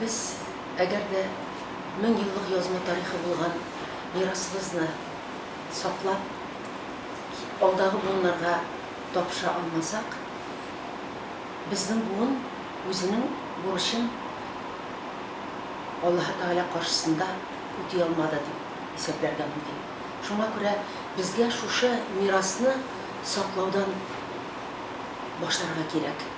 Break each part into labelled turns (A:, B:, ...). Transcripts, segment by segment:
A: Без, әгәр дә мең еллык язма тарихы булган мирасыбызны саклап, алдагы буыннарга тапшыра алмасак, безнең буын үзенең бурычын Аллаһы Тәгалә каршысында үти алмады дип исәпләргә мөмкин. Шуңа күрә безгә шушы мирасны саклаудан башларга кирәк.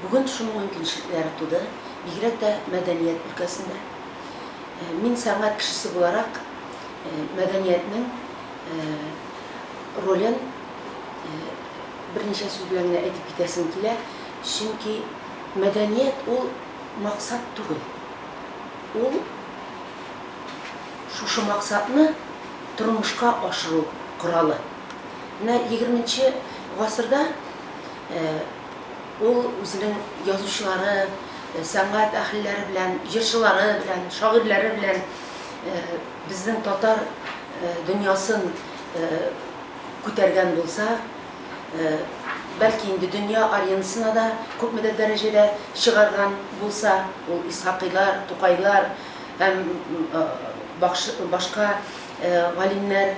A: Бүген шуның мөмкинчелекләре туды, бигрәк тә мәдәният өлкәсендә. Мин сәнгать кешесе буларак, мәдәниятнең ролен берничә сүз белән генә әйтеп китәсем килә, чөнки мәдәният ул максат түгел, ул шушы максатны тормышка ашыру коралы. Менә егерменче гасырда, Ул үзенең язучылары, сәнгать әһелләре белән, җырчылары белән, шагыйрьләре белән безнең татар дөньясын күтәргән булса, бәлки инде дөнья аренасына да күпмедер дәрәҗәдә чыгарган булса, ул Исхакыйлар, Тукайлар һәм башка галимнәр,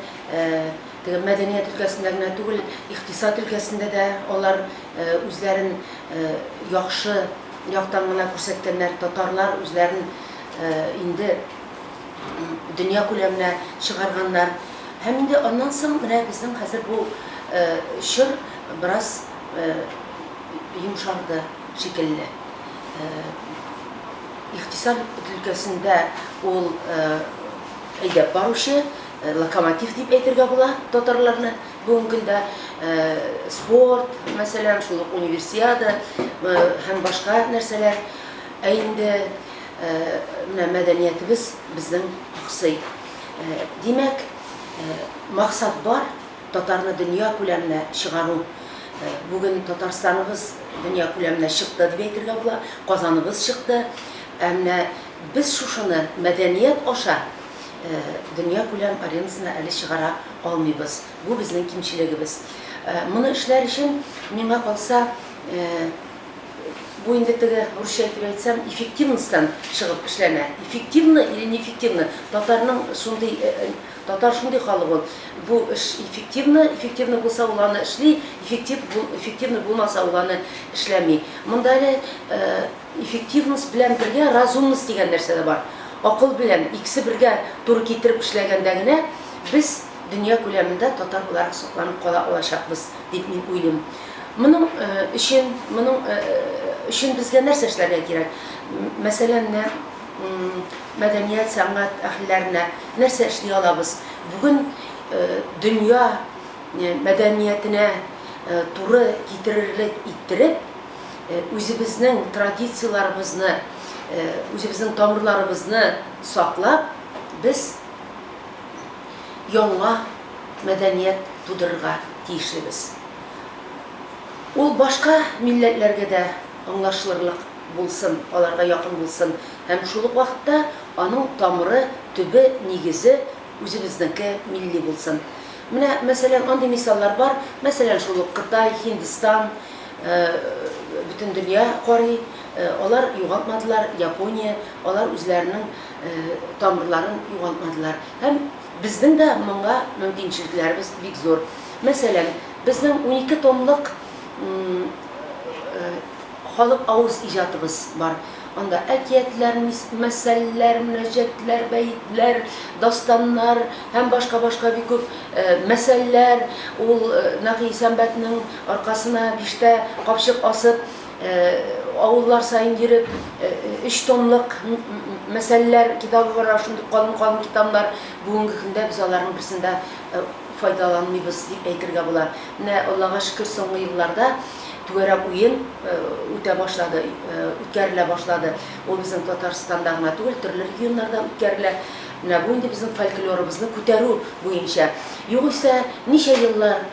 A: Теге мәдәният өлкәсендә генә түгел, икътисад өлкәсендә дә алар үзләрен яхшы яктан гына күрсәткәннәр. Татарлар үзләрен инде дөнья күләменә чыгарганнар. Һәм инде аннан соң менә безнең хәзер бу чор бераз йомшарды шикелле. Икътисад өлкәсендә ул әйдәп баручы. Локомотив дип әйтергә була татарларны бүгенге көндә. Спорт, мәсәлән, шул ук универсиада һәм башка нәрсәләр. Ә инде менә мәдәниятебез безнең аксый. Димәк, максат бар, татарны дөнья күләменә чыгару. Бүген Татарстаныбыз дөнья күләменә чыкты дип әйтергә була, Казаныбыз чыкты. Ә менә без шушыны мәдәният аша дөньякүләм аренасына әле чыгара алмыйбыз. Бу безнең кимчелегебез. Моны эшләр өчен, миңа калса, бу инде теге, русча итеп әйтсәм, эффективностьтан чыгып эшләнә. Эффективно или не эффективно, татарның шундый, татар шундый халык ул, бу эш эффективно, эффективно булса, ул аны эшли, эффектив, эффективно булмаса, ул аны эшләми. Монда әле, Эффективность белән бергә разумность дигән нәрсә дә бар. Акыл белән, икесе бергә туры китереп эшләгәндә генә без дөнья күләмендә татар буларак сакланып кала алачакбыз дип мин уйлыйм. Моның өчен, моның өчен безгә нәрсә эшләргә кирәк? Мәсәлән, менә мәдәният, сәнгать әһелләренә нәрсә эшли алабыз? Бүген дөнья мәдәниятенә туры китерерлек иттереп, Үзебезнең традицияләребезне, үзебезнең тамырларыбызны саклап, без яңа мәдәният тудырырга тиешлебез. Ул башка милләтләргә дә аңлашылырлык булсын, аларга якын булсын һәм шул ук вакытта аның тамыры, төбе, нигезе үзебезнеке милли булсын. Менә, мәсәлән, андый мисаллар бар, мәсәлән, шул ук Кытай, Һиндстан. Бөтен дөнья карый, алар югалтмадылар, Япония, алар үзләренең тамырларын югалтмадылар. Һәм безнең дә моңа мөмкинчелекләребез бик зур. Мәсәлән, безнең унике томлык халык авыз иҗатыбыз бар. Анда әкиятләр, мәсәлләр, мөнәҗәтләр, бәетләр, дастаннар һәм башка-башка бик күп мәсәлләр. Ул Нәкый Исәнбәтнең аркасына биштә капчык асып, авыллар саен йөреп, өч томлык мәсәлләр китабы бар, ана шундый калын-калын китамнар. Бүгенге көндә без аларның берсен дә файдаланмыйбыз дип әйтергә була. Менә Аллага шөкер, соңгы елларда түгәрәк уен үтә башлады, үткәрелә башлады. Ул безнең Татарстанда гына түгел, төрле регионнарда үткәрелә. Менә бу инде безнең фольклорыбызны күтәрү буенча. Югыйсә, ничә еллар,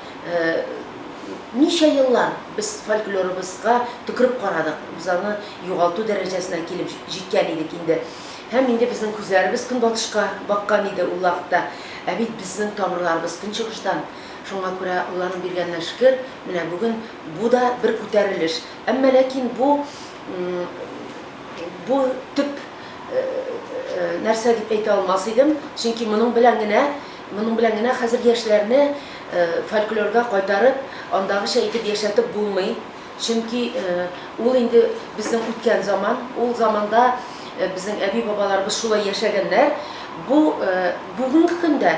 A: ничә еллар без фольклорыбызга төкереп карадык, без аны югалту дәрәҗәсенә килеп җиткән идек инде. Һәм инде безнең күзләребез көнбатышка баккан иде ул вакытта. Ә бит безнең тамырларыбыз көнчыгыштан. Шуңа күрә уйланып биргәненә шөкер, менә бүген бу да бер күтәрелеш. Әмма ләкин бу, бу төп нәрсә дип әйтә алмас идем, чөнки моның белән генә, моның белән генә хәзер яшьләрне фольклорга кайтарып, андагыча итеп яшәтеп булмый. Чөнки ул инде безнең үткән заман, ул заманда безнең әби-бабаларыбыз шулай яшәгәннәр. Бу бүгенге көндә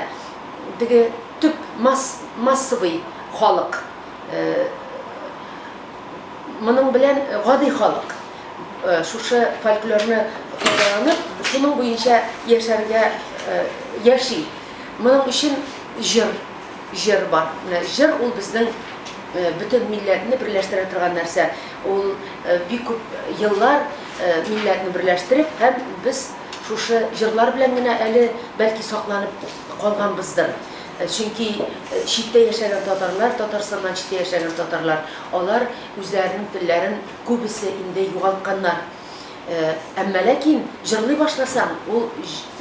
A: теге Төп масс, массовый халык, э, моның белән гади халык, э, шушы фольклорны файдаланып, шуның буенча яшәргә, э, яши. Моның өчен җыр, җыр бар. Менә җыр ул безнең, э, бөтен милләтне берләштерә торган нәрсә. Ул, э, бик күп еллар, э, милләтне берләштереп һәм без шушы җырлар белән генә әле, бәлки, сакланып. калганбыздыр. Чөнки читтә яшәгән татарлар, Татарстаннан читтә яшәгән татарлар, алар үзләренең телләрен күбесе инде югалтканнар. Әмма ләкин җырлый башласаң, ул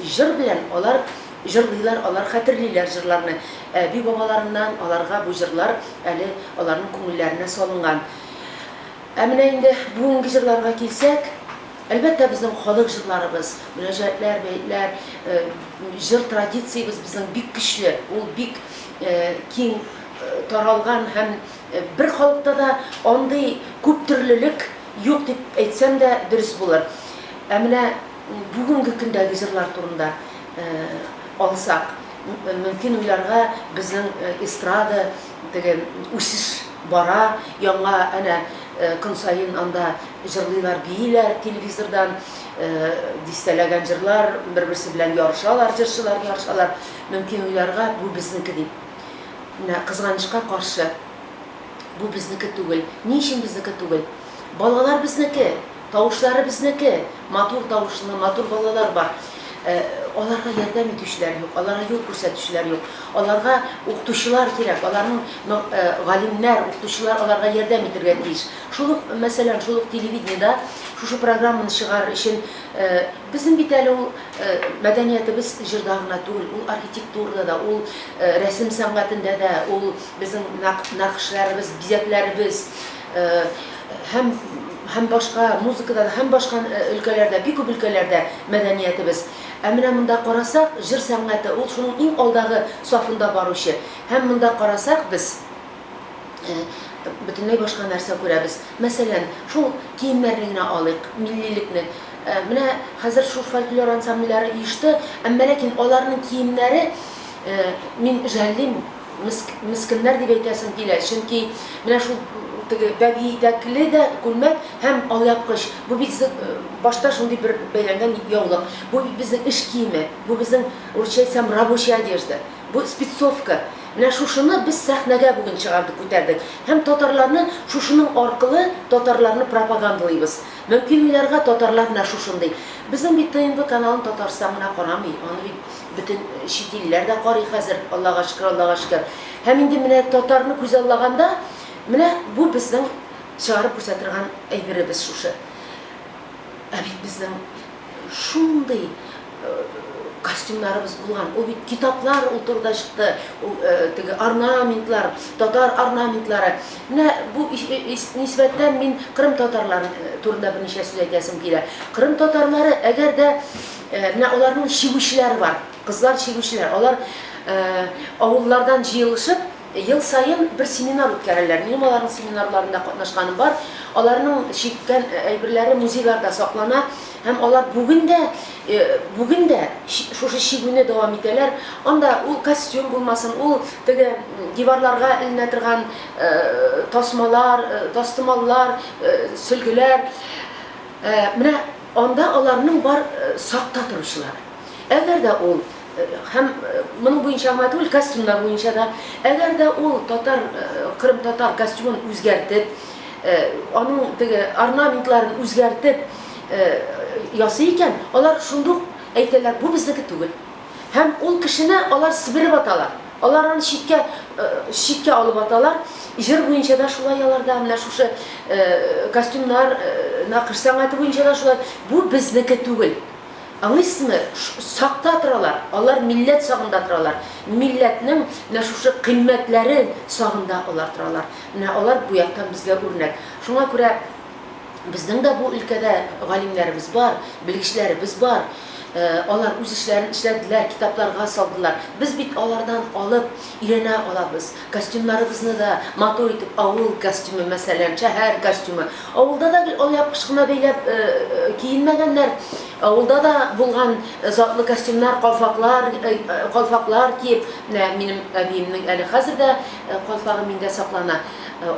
A: җыр белән алар җырлыйлар, алар хәтерлиләр җырларны. Әби-бабаларыннан аларга бу җырлар әле аларның күңелләренә салынган. Ә менә инде бүгенге җырларга килсәк, Әлбәттә, безнең халык җырларыбыз, мөрәҗәгатьләр, бәетләр, җыр традициябез безнең бик көчле, ул бик киң таралган һәм бер халыкта да андый күп төрлелек юк дип әйтсәм дә дөрес булыр. Ә менә бүгенге көндәге җырлар турында алсак, мөмкин уйларга безнең эстрада, Теге үсеш бара, яңа әнә көн саен анда җырлыйлар, бииләр телевизордан, дистәләгән җырлар, бер-берсе белән ярышалар, җырчылар ярышалар. Мөмкин уйларга, бу безнеке дип. Менә кызганычка каршы, бу безнеке түгел. Ни өчен безнеке түгел? Балалар безнеке! Тавышлары безнеке, матур тавышлы, матур балалар бар. Ә аларга ярдәм итүчеләр юк, аларга юл күрсәтүчеләр юк. Аларга укытучылар кирәк, аларның но э галимнәр, укытучылар аларга ярдәм итергә тиеш. Шул ук, мәсәлән, шул ук телевидениедә шушы программаны чыгарыр өчен э безнең бит әле ул э мәдәниятебез җырда гына түгел, ул архитектурада да, ул э рәсем сәнгатендә дә, ул безнең нәкъ нәкышләребез, бизәкләребез, һәм һәм башка музыкада да һәм башка өлкәләрдә бик күп өлкәләрдә мәдәниятебез ә менә монда карасак җыр сәнгате ул шуның иң алдагы сафында баручы һәм монда карасак без бөтенләй башка нәрсә күрәбез мәсәлән шул киемнәрне генә алыйк миллилекне менә хәзер шул фольклор ансамбльләре оешты әмма ләкин аларның киемнәре мин жәллим Меск, мескеннәр дип әйтәсем килә, чөнки менә шул теге бәбиидәкле дә күлмәк һәм алъяпкыч, бу бит зэ, башта шундый бер бәйләнгән яулык, бу бит безнең эш киеме, бу безнең, урысча әйтсәм, рабочая одежда, бу спецовка. Менә шушыны без сәхнәгә бүген чыгардык, күтәрдек. Һәм татарларны шушының аркылы татарларны пропагандалыйбыз. Мөмкин уйларга татарлар менә шушындый. Безнең бит ТНВ каналын Татарстан гына карамый, аны бит. Бөтен чит илләр дә карый хәзер, Аллага шөкер, Аллага шөкер. Һәм инде менә татарны күзаллаганда, менә бу безнең чыгарып күрсә торган әйберебез шушы. Ә бит безнең шундый костюмнарыбыз булган, ул бит китаплар ул турыда чыкты, ул теге орнаментлар, татар орнаментлары. Менә бу нисбәттән мин кырым татарлары турында берничә сүз әйтәсем килә. Кырым татарлары, әгәр дә Менә аларның чигүчеләре бар, кызлар чигүчеләр. Алар авыллардан җыелышып, ел саен бер семинар үткәрәләр. Минем аларның семинарларында катнашканым бар. Аларның чиккән әйберләре музейларда саклана һәм алар бүген дә, бүген дә шушы чигүне дәвам итәләр. Анда ул костюм булмасын, ул теге диварларга эленә торган тасмалар, тастымаллар, сөлгеләр. Менә. Анда аларның бар сакта торучылар. Әгәр дә ул, һәм моның буенча гына түгел, костюмнар буенча да, әгәр дә ул татар, кырымтатар костюмын үзгәртеп, аның теге орнаментларын үзгәртеп ясый икән, алар шундук әйтәләр, бу безнеке түгел. Һәм ул кешене алар себереп аталар. Алар аны читкә, читкә алып аталар. Җыр буенча да шулай аларда, менә шушы костюмнар, нәкыш сәнгате буенча да шулай. Бу безнеке түгел. Аңыйсызмы? Сакта торалар. Алар милләт сагында торалар. Милләтнең менә шушы кыйммәтләре сагында алар торалар. Менә алар бу яктан безгә үрнәк. Шуңа күрә. Безнең дә бу өлкәдә галимнәребез бар, белгечләребез бар. Алар үз эшләрен эшләделәр, китапларга салдылар. Без бит алардан алып, өйрәнә алабыз. Костюмнарыбызны да матур итеп, авыл костюмы, мәсәлән, шәһәр костюмы. Авылда да гел алъяпкыч кына бәйләп киенмәгәннәр. Авылда да булган затлы костюмнар, калфаклар, калфаклар киеп, менә минем әбиемнең әле хәзер дә калфагы миндә саклана.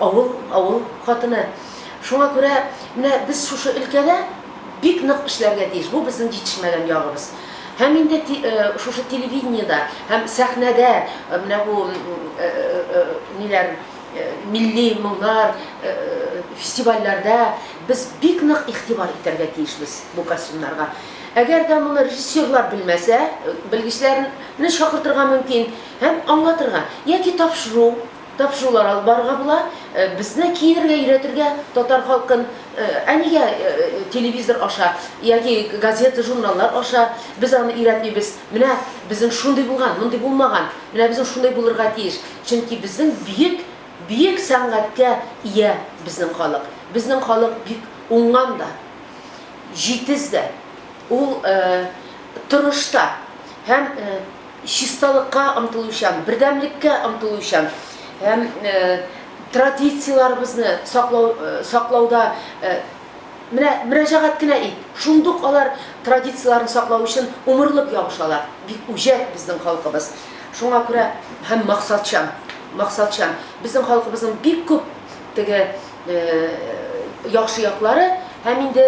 A: Авыл, авыл хатыны. Шуңа күрә менә без шушы өлкәдә бик нык эшләргә тиеш. Бу безнең җитешмәгән ягыбыз. Һәм инде шушы телевидениедә һәм сәхнәдә менә бу ниләр, милли моңнар, фестивальләрдә без бик нык игътибар итәргә тиешбез бу костюмнарга. Әгәр дә моны режиссерлар белмәсә, белгечләрне чакыртырга мөмкин һәм аңлатырга яки тапшыру. Тапшырулар алып барырга була. Безне киерергә өйрәтергә татар халкын, ә нигә телевизор аша яки газета, журналлар аша без аны өйрәтмибез? Менә безнең шундый булган, мондый булмаган, менә безнең шундай булырга тиеш. Чөнки безнең бөек, бөек сәнгатькә ия безнең халык. Безнең халык бик уңган да, җитез дә, ул тырыш та һәм. чисталыкка омтылучан, бердәмлеккә омтылучан һәм традицияләребезне саклау, саклауда менә мөрәҗәгать кенә ит, шундук алар традицияләрен саклау өчен умырлык ябышалар. Бик үҗәт безнең халкыбыз. Шуңа күрә һәм максатчан, максатчан. Безнең халкыбызның бик күп теге яхшы яклары һәм инде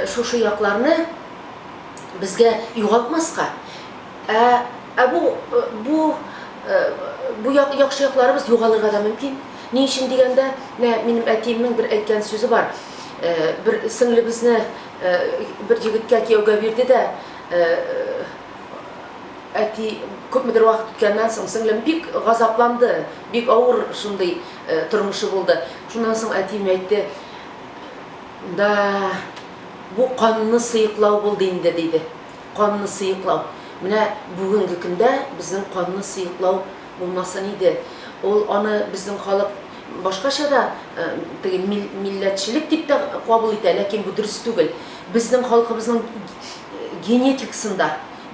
A: шушы якларны безгә югалтмаска, Ә, ә бу, бу, бу як, яхшы якларыбыз югалырга да мөмкин. Ни өчен дигәндә, менә минем әтиемнең бер әйткән сүзе бар. Бер сеңлебезне бер егеткә кияүгә бирде дә, әти күпмедер вакыт үткәннән соң, сеңлем бик газапланды, бик авыр шундый тормышы булды. Шуннан соң әтием әйтте, да, бу канны сыеклау булды инде, диде. Канны сыеклау. Менә бүгенге көндә безнең канны сыеклау булмасын иде. Ул аны безнең халык башкача да теге милләтчелек дип тә кабул итә, ләкин бу дөрес түгел. Безнең халкыбызның генетикасында,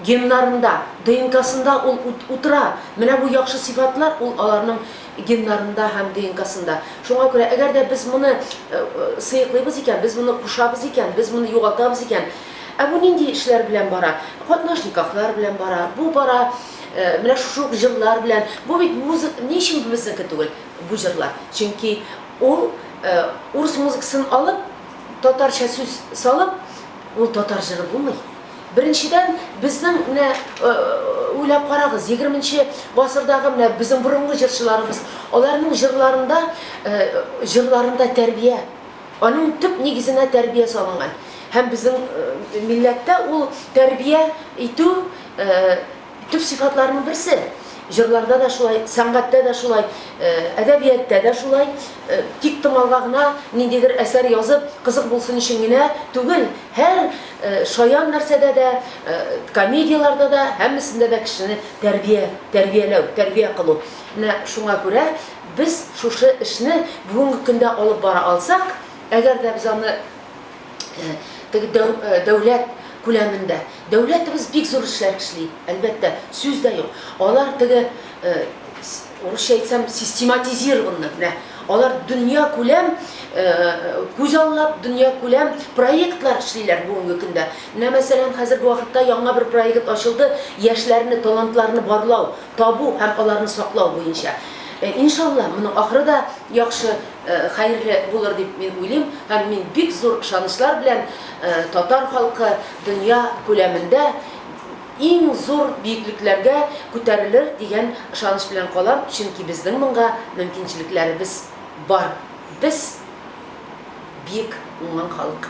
A: геннарында, ДНКсында ул утыра. Менә бу яхшы сыйфатлар ул аларның геннарында һәм ДНКсында. Шуңа күрә, әгәр дә без моны сыеклыйбыз икән, без моны кушабыз икән, без моны югалтабыз икән, Ә бу нинди эшләр белән бара? Катнаш никахлар белән бара, бу бара менә шушы ук җырлар белән. Бу бит музык, ни өчен бу безнеке түгел бу җырлар? Чөнки ул урыс музыкасын алып, татарча сүз салып, ул татар җыры булмый. Беренчедән, безнең менә уйлап карагыз, егерменче гасырдагы менә безнең борынгы җырчыларыбыз, аларның җырларында, җырларында тәрбия. Аның төп нигезенә тәрбия салынган. Һәм безнең милләттә ул тәрбия итү төп сыйфатларының берсе. Җырларда да шулай, сәнгатьтә дә шулай, әдәбияттә дә шулай. Тик тыңлауга гына, ниндидер әсәр язып, кызык булсын өчен генә түгел, һәр шаян нәрсәдә дә, комедияләрдә дә, һәммәсендә дә кешене тәрбия, тәрбияләү, тәрбия кылу. Менә шуңа күрә Без шушы эшне бүгенге көндә алып бара алсак, әгәр дә без аны теге дәүләт күләмендә, дәүләтебез бик зур эшләр эшли, әлбәттә, сүз дә юк. Алар теге, урысча әйтсәм, систематизированный, менә алар дөньякүләм күзаллап, дөньякүләм проектлар эшлиләр бүгенге көндә. Менә, мәсәлән, хәзерге вакытта яңа бер проект ачылды, яшьләрне, талантларны барлау. табу һәм аларны саклау буенча. Иншалла, моның ахыры да яхшы, хәерле булыр дип мин уйлыйм һәм мин бик зур ышанычлар белән татар халкы дөнья күләмендә иң зур биеклекләргә күтәрелер дигән ышаныч белән калам, чөнки безнең моңга мөмкинчелекләребез бар, без биек уңган халык.